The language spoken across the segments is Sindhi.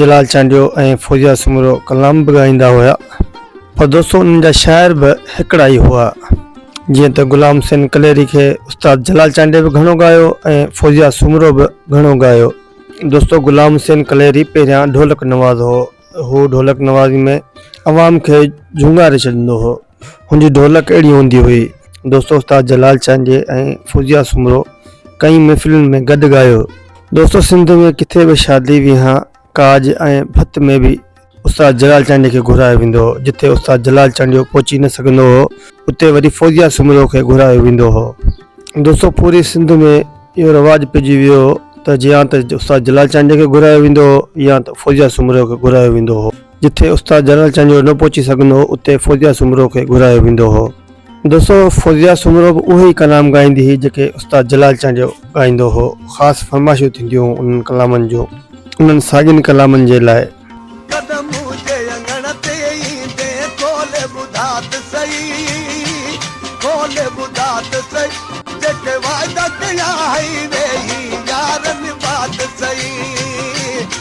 جلال چانڊيو ۽ فوزيا سومرو ڪلام به ڳائيندا هيا پر دوستو انهن جا شاعر به هڪڙا ئي هئا جيئن ته غلام حسين ڪليري کي استاد جلال چانڊيو به گهڻو ڳايو ۽ فوزيا سومرو به گهڻو ڳايو دوستو غلام حسين ڪليري پهريان ڍولڪ نواز هو هو ڍولڪ نوازي ۾ عوام کي جهونگاري ڇڏيندو هو هن جي ڍولڪ اهڙي هوندي هئي. دوستو استاد جلال چانڊيي ۽ فوزيه سومرو ڪئين محفلن ۾ گڏ ڳايو. دوستو سنڌ ۾ ڪٿي به شادي ويهان ڪاڄ ۽ ڀت ۾ به استاد جلال چانڊيي کي گهرايو ويندو هو. جتي استاد جلال چانڊيو پهچي نه سگهندو هو اتي وري فوزيه سومرو کي گهرايو ويندو هو. دوستو پوري سنڌ ۾ اهو رواج پئجي ويو هو ته يا ته استاد جلال چانڊيي کي گهرايو ويندو هو يا ته فوزيه سومرو کي گهرايو ويندو هو. جتي استاد جنرل چانڊيو نه پهچي سگهندو هو اتي فوزيا سومرو کي گهرايو ويندو هو. دوستو فوزيا سومرو به اهي ئي ڪلام ڳائيندي هئي جيڪي استاد جلال چانڊيو ڳائيندو هو. خاص فرمائشون ٿينديون هيون انهن ڪلامن جون. انهن ساڳين ڪلامن جي لاء.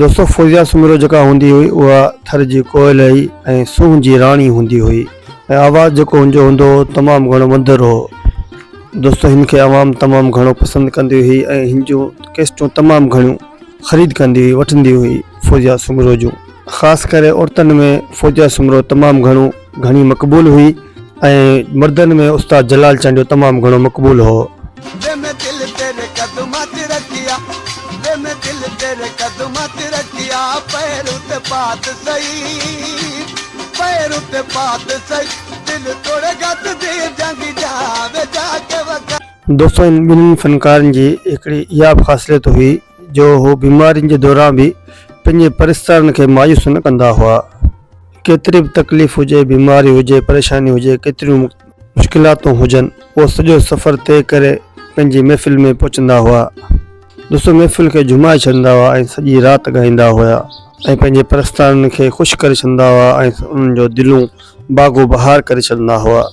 دوستو فوزيا سومرو جيڪا هوندي هئي اها ٿر جي ڪوئل هئي ۽ سونهن جي راڻي هوندي هئي ۽ آواز جيڪو هن جو هوندو هو تمام گهڻو مڌر هو دوستو هن کي عوام تمام گهڻو پسند ڪندي هئي ۽ هن جو ڪيسٽون تمام گهڻيون خريد ڪندي هئي وٺندي هئي فوزيا سومرو جون خاص ڪري عورتن ۾ فوزيا سومرو تمام گهڻو گهڻي مقبول هئي ۽ مردن ۾ استاد جلال چانڊيو تمام گهڻو مقبول هو. وي مين دل تيري قدمان تي رکيا وي مين دل تيري قدمان تي رکيا پير اتي پات سهي پير اتي پات سهي دل توڙي گت دي جانگي جا وي جا ڪي وکا. دوستو هن ٻنهي فنڪارن جي هڪڙي اها به خاصليت هئي جو هو بيمارين جي دوران به پنهنجي پرستارن کي مايوس نه ڪندا هئا. ڪيتري به تڪليف هجي بيماري هجي پريشاني هجي ڪيتريون مشڪلاتون هجن پوء سڄو سفر طئي ڪري پنهنجي محفل ۾ پهچندا هئا دوستو محفل کي جھمائي ڇڏندا هئا ۽ سڄي رات ڳائيندا هيا ۽ پنهنجي پرستارن کي خوش ڪري ڇڏندا هئا ۽ انهن جو دلون باغو بهار ڪري ڇڏندا هئا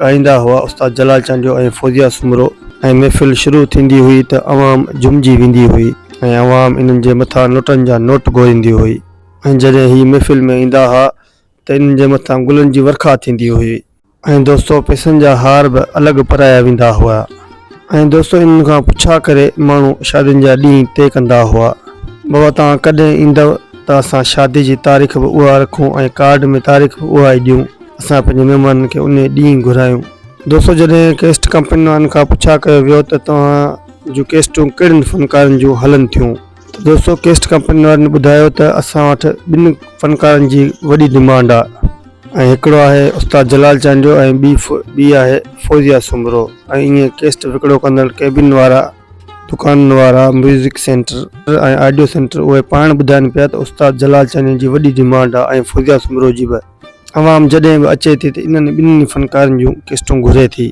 ڳائيندا هئا استاد جلال چانڊيو ۽ فوزيه سومرو ۽ محفل شروع ٿيندي هئي ته عوام جهومجي ويندي هئي ۽ عوام انهن جي مٿان نوٽن جا نوٽ گهوريندي هئي ۽ جڏهن هي محفل ۾ ايندا ها ته انهن جي مٿان گلن جي ورکا ٿيندي هئي ۽ دوستو پئسن جا هار به الڳ پرايا ويندا هئا. ۽ دوستو انهن کان پڇا ڪري ماڻهو شادين جا ڏينهن طئي ڪندا هئا. بابا توهان ڪڏهن ايندؤ ته اسان شادي جي تاريخ به اها رکون ۽ ڪارڊ ۾ تاريخ به اها ئي ڏيون. اسان پنهنجي مهمانن کي انهي ڏينهن گهرايون. دوستو جڏهن ڪيسٽ ڪمپنين وارن کان پڇا ڪيو ويو ته توهان جون ڪيسٽون ڪهڙن فنڪارن جون هلن ٿيون؟ دوستو ڪيسٽ ڪمپني وارن ٻڌايو ته اسان وٽ ٻن فنڪارن جي وڏي ڊمانڊ آ ۽ هڪڙو آهي استاد جلال چانڊيو ۽ ٻي ٻي آهي فوزيا سومرو ۽ ائين ڪيسٽ وڪڙو ڪندڙ ڪيبن وارا دڪانن وارا ميوزڪ سينٽر ۽ آڊيو سينٽر اهي پاڻ ٻڌائن پيا ته استاد جلال چانڊيو جي وڏي ڊمانڊ آ ۽ فوزيا سومرو جي به عوام جڏهن به اچي ٿي ته انهن ٻنهي فنڪارن جون ڪيسٽون گهري ٿي.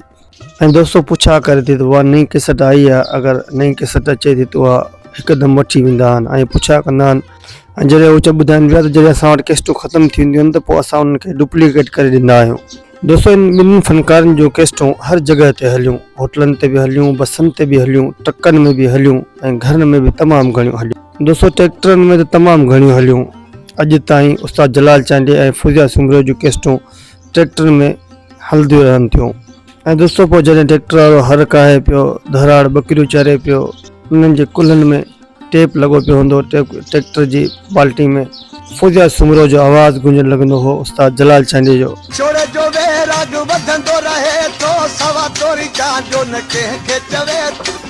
۽ دوستو پڇا ڪري ٿي ته اها نئين ڪيسٽ آئي آهي اگر نئين ڪيسٽ اچي ٿي ته اها هڪدم وٺي ويندا آهن ۽ پڇا ڪندا آهن ۽ جڏهن هو چ ٻڌائن پيا ته جڏهن اسان وٽ ڪيسٽون ختم ٿي وينديون آهن ته پوء اسان انهن کي ڊپليڪيٽ ڪري ڏيندا آهيون دوستو ان ٻنهن فنڪارن جون ڪيسٽون هر جڳهه تي هليون هوٽلن تي به هليون بسن تي به هليون ٽرڪن ۾ به هليون ۽ گهرن ۾ به تمام گهڻيون هليون دوستو ٽريڪٽرن ۾ ته تمام گهڻيون هليون اڄ تائين استاد جلال چانڊيي ۽ فوزيا سومرو جون ڪيسٽون ٽريڪٽرن ۾ هلنديون رهن ٿيون ۽ دوستو پوء جڏهن ٽريڪٽر وارو هر ڪاهي پيو ڌراڙ ٻڪريون چري پيو انهن جي ڪلهن ۾ ٽيپ لڳو پيو هوندو ٽريڪٽر جي بالٽي ۾ فوزيا سومرو جو آواز گونجڻ لڳندو هو استاد جلال چانڊيي جو. چوڙ جو ويراڳ وڌندو رهي ٿو سوا توري چانڊيو نه ڪنهن کي چوي ٿو.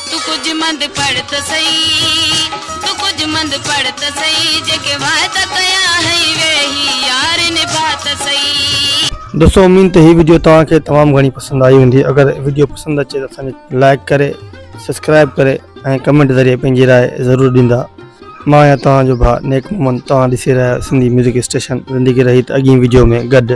تون ڪجهه مند پڙهه ته سهي، تون ڪجهه مند پڙهه ته سهي، جيڪي وعدا ڪيا هئي ويهي، يار نڀاء ته سهي. دوستو اميد ته هي وڊيو توهان کي تمام گهڻي پسند آئي هوندي اگر وڊيو پسند اچي ته اسان کي لائڪ ڪري سبسڪرائب ڪري ۽ ڪمينٽ ذريعي پنهنجي راء ضرور ڏيندا مان آهيان توهان جو ڀاء نيڪ محمد توهان ڏسي رهيا آهيو سنڌي ميوزڪ اسٽيشن زندگي رهي ته اڳين وڊيو ۾ گڏ